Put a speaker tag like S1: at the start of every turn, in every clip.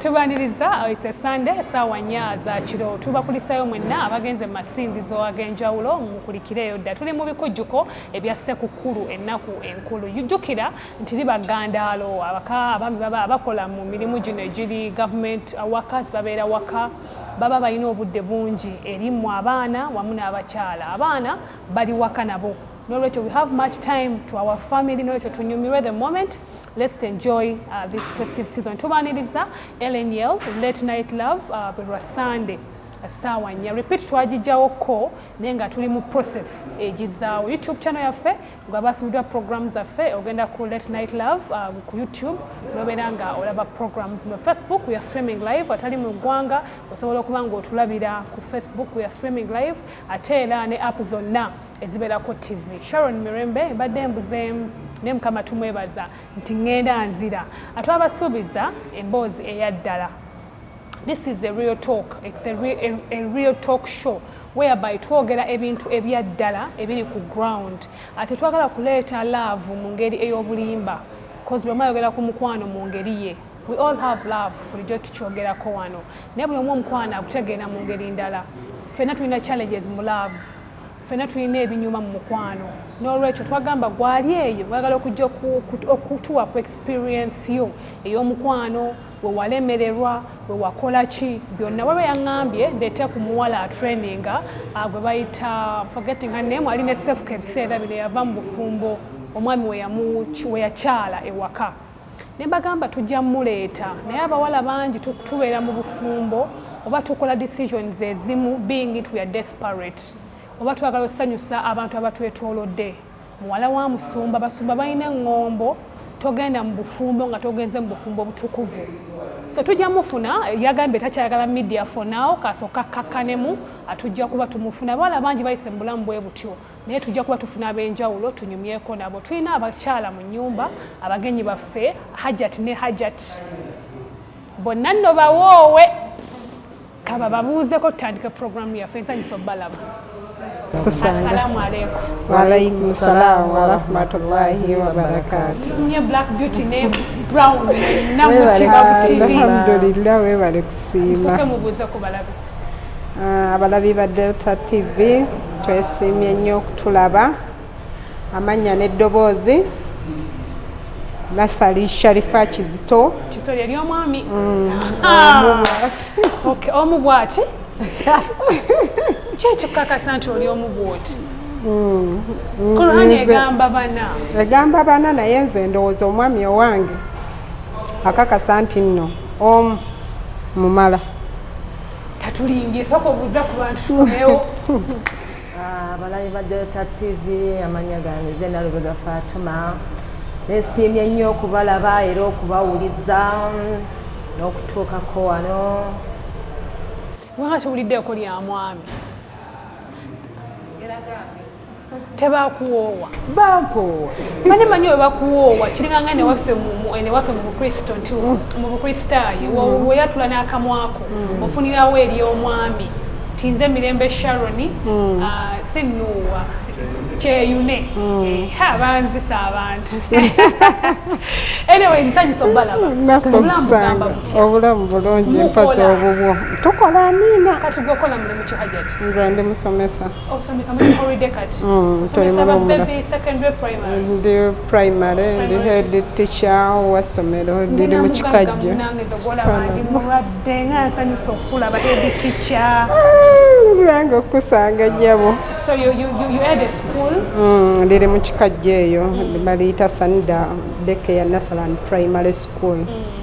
S1: tubaniriza uh, it's a sunday saawa nya za kiro tubakulisayo mwenna abagenze mu masinzizo ag'enjawulo mukulikireeyo dda tuli mu bikujjuko ebya ssekukkulu ennaku enkulu jjukira nti liba gandaalo abaka abaami baba abakola mu mirimu gino egiri government uh, workers babeera waka baba balina obudde bungi erimu abaana wamu n'abakyala abaana bali waka nabo nolwekyo we have much time to our family nolwekyo tunyumirwe the moment Let's enjoy uh, this festive season. Tubaniriza Ellen Yell, Late Night Love, uh, Berwa Sunday. saawa nnya repeat twagijjawo ko naye nga tuli mu process egizaawo youtube channel yaffe nga basubiddwa program zaffe ogenda ku late night love uh, ku youtube nobeera nga olaba programs mu facebook weare streaming live atali mu ggwanga osobola okuba nga otulabira ku facebook weare streaming live ate era ne app zonna ezibeerako ttivi sharon mirembe mbadde embuzeemu naye mukama tumwebaza nti ŋŋenda nzira atwabasuubiza emboozi eya ddala this is a real talk it's a real, a, a real talk show whereby twogera ebintu ebya ddala ebiri ku ground ate twagala kuleeta love mu ngeri ey'obulimba bcause bwemu ayogera ku mukwano mu ngeri ye we all have love bulijjo tukyogerako wano naye buli omu omukwano akutegeera mu ngeri ndala ffenna tulina challenges mu love fena tulina ebinyuma mu mukwano n'olwekyo twagamba gwali eyo gwagala okujja okutuwa ku experience yo ey'omukwano wewalemererwa wewakola ki byonna waba yaŋambye ndeete ku muwala atraininga ah, gwe bayita forgetting her name ali ne sefuka ebiseera bino yava mu bufumbo omwami weyakyala ewaka ne bagamba tujja muleeta naye abawala bangi tubeera mu bufumbo oba tukola decisions ezimu being it we are desperate oba twagala osanyusa abantu abatwetoolodde muwala wa musumba basumba balina eŋŋombo togenda mu bufumbo nga togenze mu bufumbo obutukuvu so tujja mufuna yagambye takyayagala media for now kasooka kakkanemu atujja kuba tumufuna abawala bangi bayise mu bulamu bwe butyo naye tujja kuba tufuna ab'enjawulo tunyumyeko nabo tulina abakyala mu nyumba abagenyi baffe hajat ne hajat bonna nno bawoowe kaba babuuzeko tutandike puroguramu yaffe ensanyisa obalaba assalamu
S2: alaikum waalaikum
S3: salaamu warahmatullahi wabarakatu nye black beauty
S1: ne brown namutima alhamdulillah webale
S3: kusiima mubuuze ku balabe
S1: Ah, abalabi
S3: ba delta tv twesiimye nnyo okutulaba amannya n'eddoboozi nasali sharifa kizito kizito lyeri omwami
S1: mm. ah. omu bwati kyekikukakasa nti oli omu bwoti mm. mm. kurani egamba bana egamba bana
S3: naye nze ndowooza omwami owange akakasa nti nno omu mumala
S1: tatulimbye soka obuuza ku bantu tukomewo ah,
S2: abalabi ba delta tv amanya gange ze nalubega fatuma nesiimye nnyo okubalaba era okubawuliza mm, n'okutuukako wano
S1: wanga kiwuliddeeko lya mwami era gange tebakuwoowa bampoowa
S2: mane manyi oyo
S1: bakuwoowa kiringanga newaffe newaffe mu bukristo nti mm. mu bukristaayo mm. weyatula n'akamwako mm. ofunirawo eri omwami tinze mirembe sharoni ah, sinuuwa kyeyune eh, ha banzisa abantu anyway nsanyisa obalaba obulamu bugamba butya obulamu
S3: bulungi mpata obubwo tukola amiina kati gwekola mulimu
S1: kihajati nze ndi musomesa
S3: osomesa
S1: muli holiday kati mm, osomesa ba baby secondary primary
S3: mm, ndi primary ndi head teacher wa somero ndi mu kikajjo nange
S1: zogola bandi mulwadde nga nsanyusa okula ba head teacher nange
S3: ah, okusanga nyabo so you you you
S1: had a school mm ndi mu
S3: kikajjo eyo mm. balita sanda deke ya nasaland primary school mm.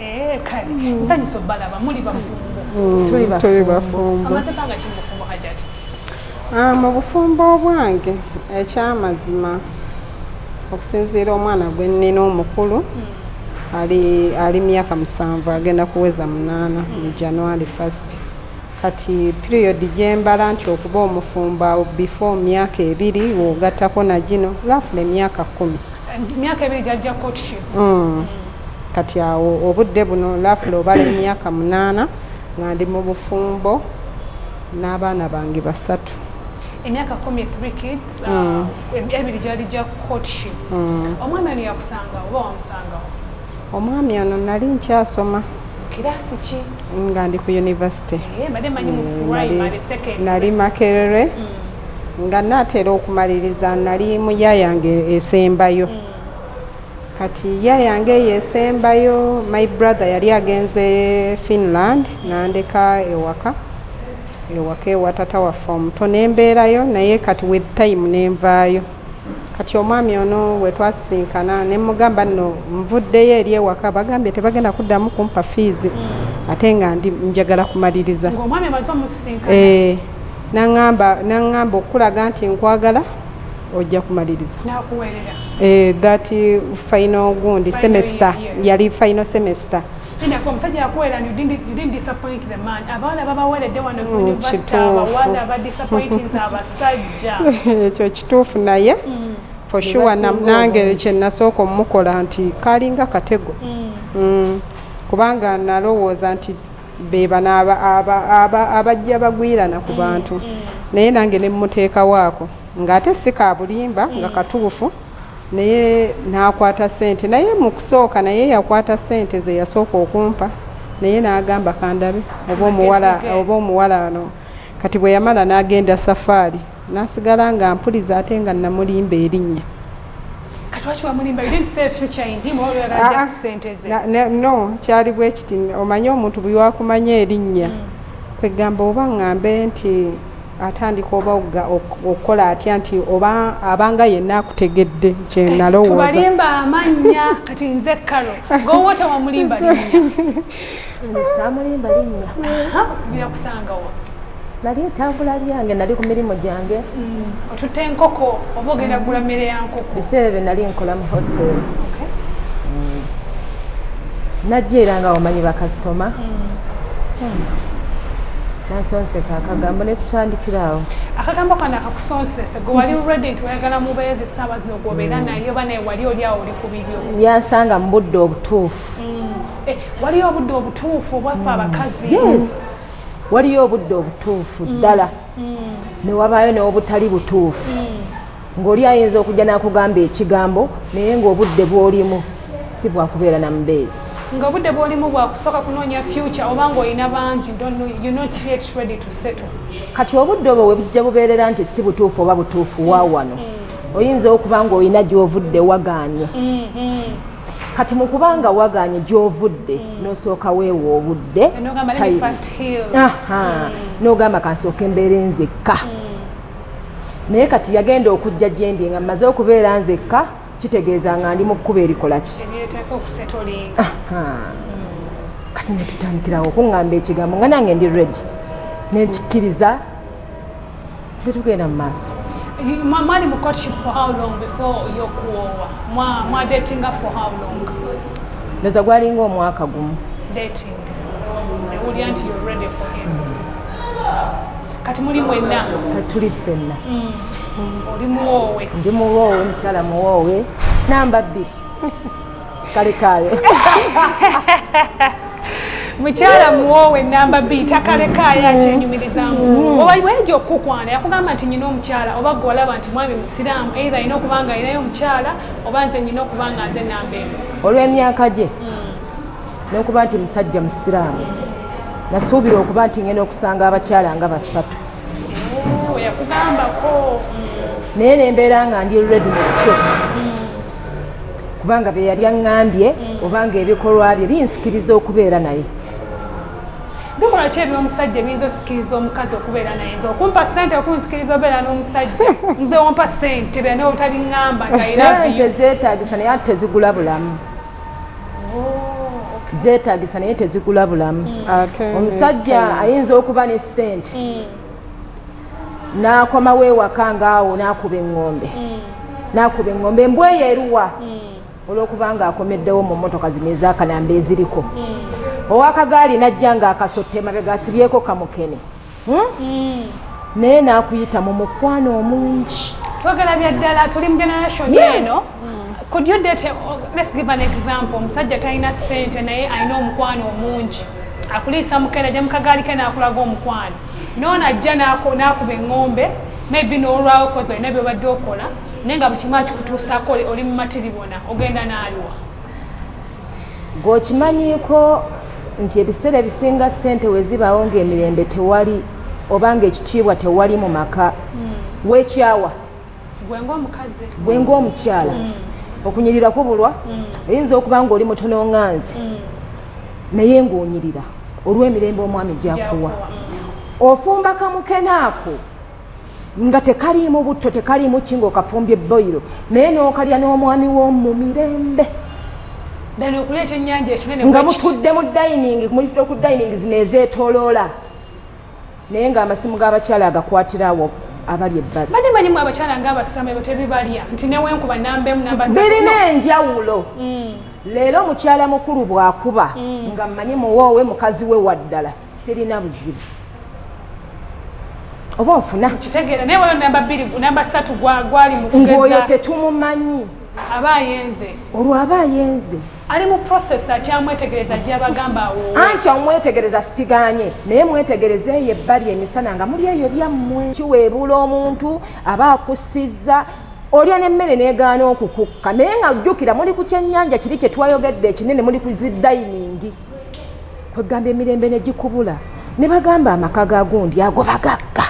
S2: Eh, kale mm.
S1: nsanyusa obalaba muli bafumbo
S3: mm, tuli
S1: bafumbo amaze banga ki mubufumbo
S3: hajati ah, mu bufumbo obwange ekyamazima okusinziira omwana gwe nnina omukulu mm. ali ali myaka musanvu agenda kuweza munaana mu january first kati period gyembala nti okuba omufumbo before myaka ebiri wogattako na gino lafula emyaka kkumi myaka ebiri
S1: gyajja courtship mm.
S3: kati awo obudde buno lafula obala emyaka munaana nga ndi mu bufumbo n'abaana bange basatu emyaka
S1: kumi three kids uh, mm. ebiri gyali gya courtship mm. omwami ono yakusanga oba wamusangawo omwami
S3: ono nali nkyasoma kirasi ki
S1: nga ndi ku
S3: univesity eh,
S1: eh, nali makerere
S3: nga naatera okumaliriza nali mu ya yange esembayo mm. kati ya yange eyo esembayo my brother yali agenze finland nandeka ewaka ewaka ewatata waffe omuto nembeerayo naye kati with time nenvaayo kati omwami ono wetwasisinkana nemugamba no nvuddeyo eri ewaka bagambye tebagenda kuddamu kumpa fiizi hmm. ate nga ndi njagala kumaliriza
S1: eh,
S3: naŋŋamba okukulaga nti nkwagala ojja kumaliriza eh,
S1: that
S3: final gundi semester yali final semester Linda
S1: kwa musajja yakuwera and you didn't, you didn't disappoint the man. Abawala babaweredde wano ku mm, university abawala ba disappointing abasajja. Ekyo
S3: kituufu naye mm. for sure nange kye nasooka omukola nti kalinga katego mm. kubanga nalowooza nti bebano abajja bagwirana ku bantu naye nange ne mmuteekawo ako ng'ate si ka bulimba nga katuufu naye n'akwata ssente naye mu kusooka naye yakwata ssente ze yasooka okumpa naye n'agamba kandabe oba omuwala oba omuwala ano kati bwe yamala n'agenda safaari n'asigala nga mpuliza ate nga namulimba erinnya ah, ah. no kyali bwe kiti omanyi omuntu bwe wakumanya erinnya mm. kwegamba oba ngambe nti atandika oba okukola atya nti oba abanga yenna akutegedde kyenalowoozabalimba eh, amannya
S1: kati nze kalo gowota wamulimba linnyasamulimba
S2: linnyakusangawa
S1: nali
S2: etambula byange nali ku mirimu gyange mm, otutte
S1: enkoko oba ogenda gula mmere ya nkoko biseera bye nali nkola
S2: mu hotel mm. najja era nga wamanyi bakasitoma mm. nansonseka akagambo netutandikira awo akagambo kano
S1: akakusonsese gwe wali redi nti oyagala mubeezi saawa zino gwobeera mm. naye oba naye wali oli awo oli ku bibyo yansanga mu budde
S2: obutuufu mm. eh, waliyo
S1: obudde obutuufu obwaffe abakazi yes
S2: waliyo obudde obutuufu ddala newabaayo newobutali butuufu ng'oli ayinza okujja n'akugamba ekigambo naye ng'obudde bw'olimu si bwakubeera na mubeezi nga obudde bw'olimu
S1: bwakusooka kunoonya future oba ng'olina bangi kati obudde obwo
S2: webujja bubeerera nti si butuufu oba butuufu wa wano mm. oyinza okuba ng'olina gy'ovudde wagaanye mm-hmm. kati mu kuba nga wagaanye gy'ovudde mm. n'osooka weewa obudde n'ogamba kansooka embeera enzekka mm. naye kati yagenda okujja gyendi nga mmaze okubeera nzekka kitegeeza nga ndi mu kkuba erikola ki kati netutandikirawo okuŋŋamba ekigambo nga nange ndi redi nekikkiriza tetugenda mu maaso mwali mu
S1: courtship for how long before yokuwoowa mwadetinga for how long ndoza
S2: gwalinga omwaka gumu dating
S1: newulira nti you're ready for him kati muli mwenna tuli ffenna
S2: mm. oli
S1: muwoowe ndi muwoowe
S2: mukyala muwoowe namba bbiri sikale kaayo mukyala muwoowe namba bbiri takalekaayo mm. akyenyumirizamu mm. oba wayinza okukukwana yakugamba nti nyina omukyala oba gwe walaba nti mwami musiraamu eitha alina okuba nga alinayo omukyala oba nze nyina okuba nga nze namba emu olw'emyaka gye n'okuba nti musajja musiraamu nasuubira okuba nti ngenda okusanga abakyala nga basatu naye nembeera nga ndi redi mukyo kubanga beyali aŋambye obanga ebikolwa bye binsikiriza okubeera naye bikola ki ebyomusajja ebiyinza osikiriza omukazi okubeera naye nze okumpa sente okunsikiriza obeera n'omusajja nze ompa sente bena otabiŋamba nti aira zeetagisa naye ate tezigula bulamu zeetagisa naye tezigula bulamu mm. omusajja mm. ayinza okuba ne ssente mm.
S4: n'akomawo ewaka ngaawo n'akuba eŋŋombe n'akuba eŋŋombe embwa eyo eruwa olw'okuba ng'akomeddewo mu mmotoka zino ez'akalamba eziriko owakagaali n'ajja ng'akasotte emabega asibyeko kamukene hmm? Hmm. naye nakuyita mu mukwano omungi twagala bya ddala
S1: tuli mu generation eno could you date let's give an example omusajja talina sente naye alina omukwano omungi akuliisa mukera ja mukagaali ke nakulaga omukwano noona ajja nakuba eŋŋombe maybe n'olwawo kozi olina byobadde okola naye nga buli kimu akikutuusaako oli mumatiribona ogenda n'aliwa gwe
S4: okimanyiiko nti ebiseera ebisinga ssente we zibaawo ng'emirembe tewali oba ng'ekitiibwa tewali mu maka hmm. weekyawa gwe ng'omukyala hmm. okunyirira kubulwa hmm. oyinza okuba ng'oli mutono nganzi naye ng'onyirira olw'emirembe omwami gyakuwa ofumba kamukenaako nga tekaliimu butto tekaliimu ki ngaokafumbye boyiro naye n'okalya n'omwami w'omu mirembe nga mutudde mu dining mulitudde ku dining zino ezeetoloola naye ng'amasimu g'abakyala agakwatirawo abali ebbali bade manyimu abakyala
S1: ng'abasama ebyo tebibalya nti newenkuba nambemu nambabirina enjawulo
S4: mm. leero mukyala mukulu bw'akuba mm. nga mmanyi muwoowe mukazi we waddala sirina buzibu oba ofuna kitegeera naye wano namba
S1: bbiri namba ssatu gwali mukugezangoyo tetumumanyi
S4: aba
S1: ayenze olwo aba ayenze
S4: ali mu process
S1: akyamwetegereza gyabagamba awo anti omwetegereza
S4: siganye naye mwetegereza eyo ebbali emisana nga muli eyo byammwe kiweebuula omuntu aba akusiza olya nemmere negaana okukukka naye nga jjukira muli ku kyennyanja kiri kyetwayogedde ekinene muli ku zidayiningi kwegamba emirembe negikubula ne bagamba amaka ga gundi ago bagagga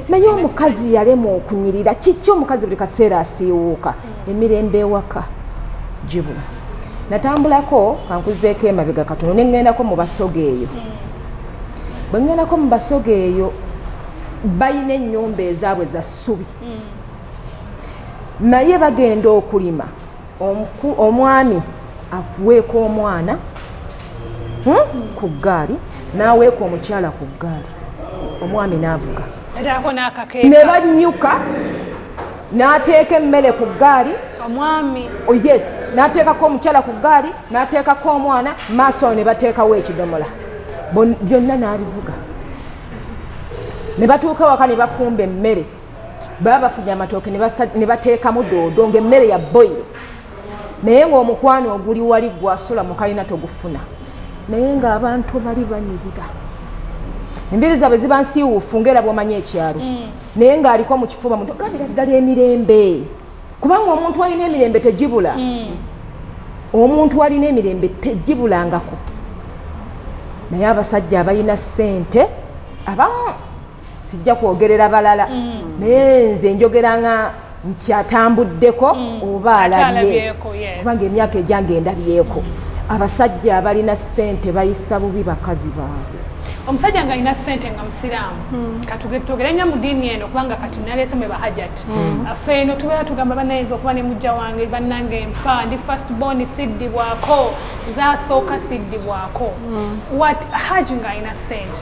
S4: naye omukazi yalemwa okunyirira kiki omukazi buli kaseera asiiwuuka emirembe ewaka gibula natambulako kankuzeeko emabega katono neŋŋendako mu basoga eyo bwe ŋŋendako mu basoga eyo balina ennyumba ezaabwe za ssubi naye bagenda okulima omwami akuweeka omwana hmm, ku ggaali n'aweeka omukyala ku ggaali omwami n'avuga ne bannyuka n'ateeka emmere ku ggaali omwami
S1: oh, yes
S4: n'ateekako omukyala ku ggaali n'ateekako omwana maaso awo ne bateekawo ekidomola byonna n'abivuga ne batuuka waka ne bafumba emmere baba bafuja amatooke ne bateekamu doodo ng'emmere ya boyiro naye ng'omukwano oguli wali gwasula mukalina togufuna naye ng'abantu bali banyirira embiri zaabwe ziba nsiiwuufu ngaera bwomanyi ekyalo mm. naye ng'aliko mu kifuba muntu olabira ddala emirembe kubanga omuntu alina emirembe tegibula mm. omuntu alina emirembe tegibulangako naye abasajja abalina ssente abamu sijja kwogerera balala mm. naye nze njogera nga nti atambuddeko mm. oba alabye kubanga emyaka egyange endabyeko abasajja abalina ssente bayisa bubi bakazi baabwe omusajja nga alina
S1: sente nga musiraamu hmm. katugezitwogere nya mu diini eno kubanga kati naleese mwe bahajat hmm. affe eno tubeera tugamba banayinza okuba ne mujja wange bannange nfa ndi first born siddibwako zasooka siddibwako hmm. wat haji nga alina sente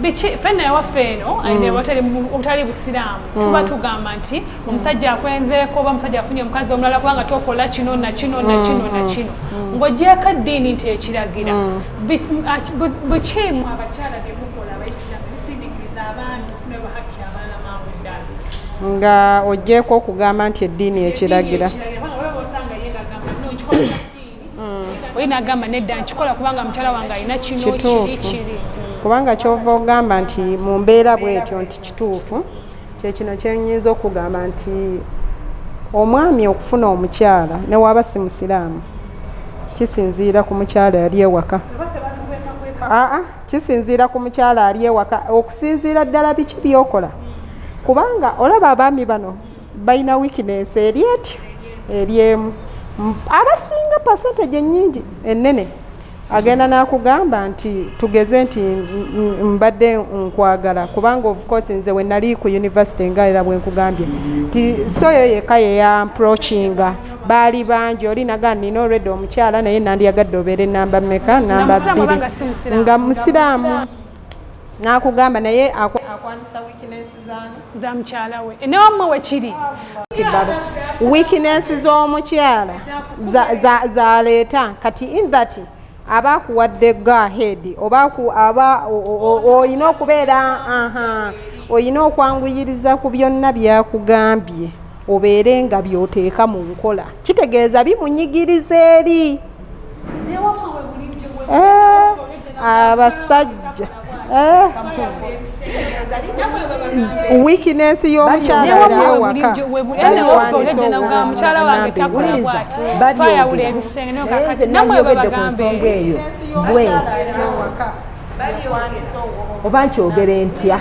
S3: biki
S1: fenna yawaffe eno mm. obutali busiraamu mm. tuba tugamba nti omusajja akwenzeeko oba omusajja afunye omukazi omulala kubanga tokola kino nakino nakino mm, nakino ng'ogyeko eddiini nti ekiragira bukiimu abakyala byemukola abaisiraamu bisindikiriza abaami ofuna bahakki abalala mangu ddala nga ogyeko
S3: okugamba nti eddiini ekiragira osanga ye gagamba no
S1: nkikola eddiini mm. oye nagamba nedda nkikola kubanga mukyala wange alina kino kiri kiri kubanga kyova
S3: ogamba nti mu mbeera bwetyo nti kituufu kyekino kyenyinza okugamba nti omwami okufuna omukyala newaaba si musiraamu kisinziira ku mukyala yali ewaka aa kisinziira ku mukyala ali ewaka okusinziira ddala biki byokola kubanga olaba abaami bano balina wikinensi eri etyo eri emu abasinga percentage enyingi enene agenda nakugamba nti tugeze nti mbadde nkwagala kubanga ofcourse nze wenali ku univesity nga era bwenkugambye nti soyo yeka yeyamprocinga baali bangi oli naga nina olredi omukyala naye nandiyagadde obeere namba meka namba bbiri nga musiraamu nakugamba naye akwanisa weakness za mukyala
S2: we e, newammwe wekiri weakness
S3: z'omukyala zaleeta kati in that aba akuwadde go ahead oba aba olina okubeera olina okwanguyiriza ku byonna byakugambye obeere nga byoteeka mu nkola kitegeeza bimunyigiriza eri eh, abasajja eh. weakness y'omukyalamukyala wange
S2: takola bwati twayawula ebisenge naye kakati namwe babagambe
S4: oba nkyogere ntya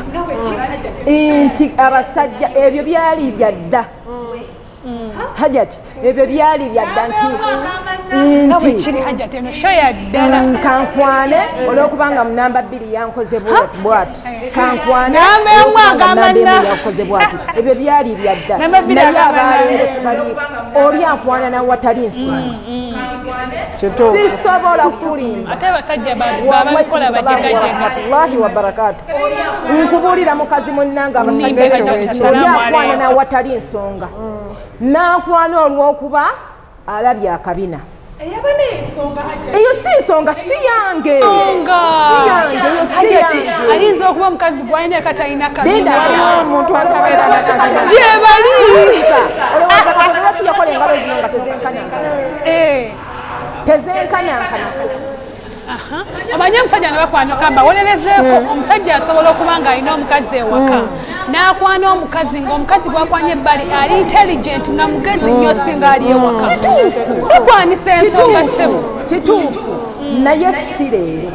S4: nti abasajja ebyo byali byadda hajati ebyo byali byadda nti kankwane olwokubanga munamba bbiri yankoze bwati kankwaneyakoze bwati ebyo byali byadda naye abaleero tebali oli ankwana nawatali nsonga sisobola
S2: kulimbawallahi wabarakatu
S4: nkubulira mukazi munange abasajjaakwana nawatali nsonga nakwana olwokuba alabye akabina eyo si nsonga siyange ayinza
S2: okuba mukazi gwalina katalina kabimumuntu
S3: atabeera nakalina gyebali yakola engalo zino nga
S4: tezenkanyankana eh. tezenkanyankana
S2: omanyi omusajja ne bakwano kamba wolerezeeko hmm. omusajja asobola okuba ng'alina omukazi ewaka hmm. n'akwana omukazi ng'omukazi gwakwanya ebbali ali intelligent nga mugezi nnyo hmm. singa ali ewaka kituufu ekwanisa ensonga sebo kituufu
S4: naye si leero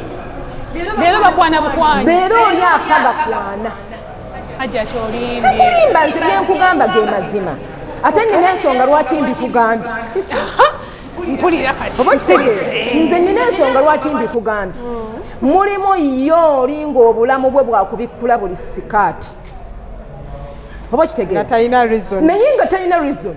S2: leero bakwana
S4: bukwanya
S2: leero oli afa bakwana sikulimba nze
S4: byenkugamba ge mazima ate nina ensonga lwaki mbikugambye
S2: nze
S4: nina ensonga lwaki mbikugambye mulimu yo olinga obulamu bwe bwakubikkula buli sikaati oba kitegeera naye nga talina reason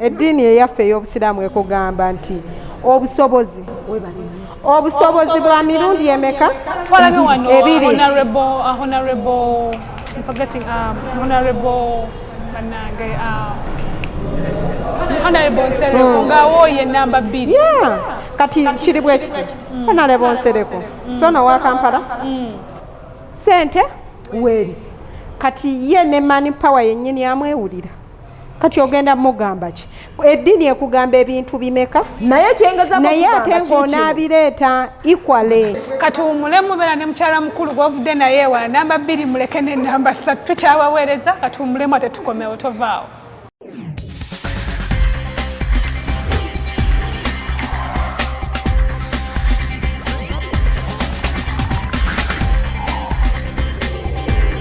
S3: Eddiini eyaffe ey'Obusiraamu ekugamba nti obusobozi obusobozi bwa mirundi emeka
S2: ebiri kati
S3: kiri bwe kiti mm. honalebo nsereko mm. so nowa kampala mm. sente weri
S4: kati
S3: ye ne mani power yennyini amwewulira kati ogenda mugamba ki eddiini ekugamba ebintu bimeka naye
S4: naye ate
S3: ng'onaabireeta equale kati wumule
S2: mubeera ne mukyala mukulu gwovudde naye ewa namba bbiri muleke ne namba ssatu tukyabaweereza kati wumulemu ate tukomewo tovaawo